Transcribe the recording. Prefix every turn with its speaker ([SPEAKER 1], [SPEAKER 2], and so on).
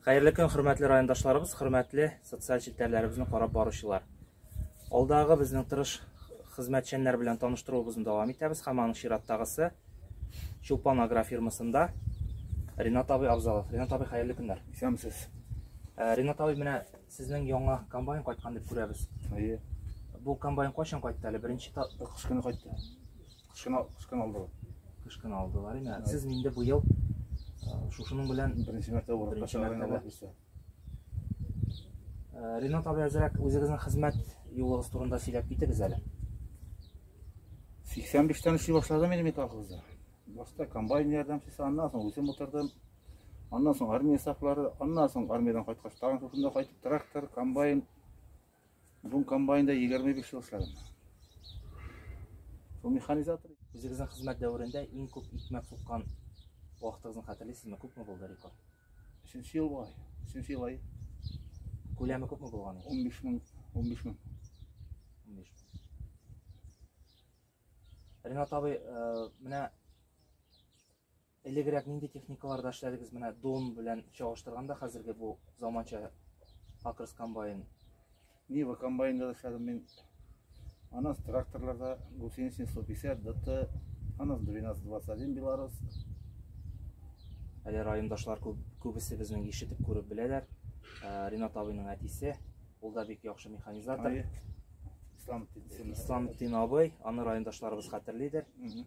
[SPEAKER 1] Хәерле көн, хөрмәтле райондашларыбыз, хөрмәтле социаль челтәрләребезне карап баручылар. Алдагы безнең тырыш хезмәтчәннәр белән таныштыруыбызны дәвам итәбез һәм аның чираттагысы Чулпан агрофирмасында Ринат абый Абзалов. Ринат абый, хәерле көннәр. Исәнмесез.
[SPEAKER 2] Э, Ринат
[SPEAKER 1] абый, менә сезнең яңа комбайн кайткан дип күрәбез. Әйе. Бу комбайн кайчан кайтты әле? Беренче кыш көне кайтты.
[SPEAKER 2] Кышкын, кышкын алдылар. Кышкын алдылар
[SPEAKER 1] име. Сез инде бу ел шушының белән беренче мәртәбә барып каша Ренат абый әзрәк үзегезнең хезмәт юлыгыз турында сөйләп китегез әле. 85
[SPEAKER 2] тән эшли башладым инде мин колхозда. Башта комбайн ярдәмчесе, аннан соң үзем утырдым. Аннан соң армия сафлары, аннан соң армиядән кайткач, тагын шушында кайтып трактор, комбайн, Бу комбайнда 25 ел эшләдем. Бу механизатор. Үзегезнең хезмәт
[SPEAKER 1] дәверендә иң күп икмәк суккан вакытыгызны хәтерлисезме? Күпме булды рекорд? Өченче ел була.
[SPEAKER 2] Өченче ел ай. Күләме
[SPEAKER 1] күпме булган? 15 мең, 15 мең. 15
[SPEAKER 2] мең.
[SPEAKER 1] Ренат абый, э, менә Элегрәк нинди техникаларда эшләдегез? Менә Дон белән чагыштырганда хәзерге бу заманча Акрос комбайн. Нива
[SPEAKER 2] комбайнда да эшләдем мин. Анас тракторларда гусеничный 150 ДТ, анас 1221 Белорус.
[SPEAKER 1] Әле райондашлар күп, күбесе безнең ишетеп күреп беләләр. Ә, Ринат абыйның әтисе, ул да бик яхшы механизатор. Ай, Ислам Титсин. Исламтин абый, аны райондашларыбыз хәтерлидер. Мгм.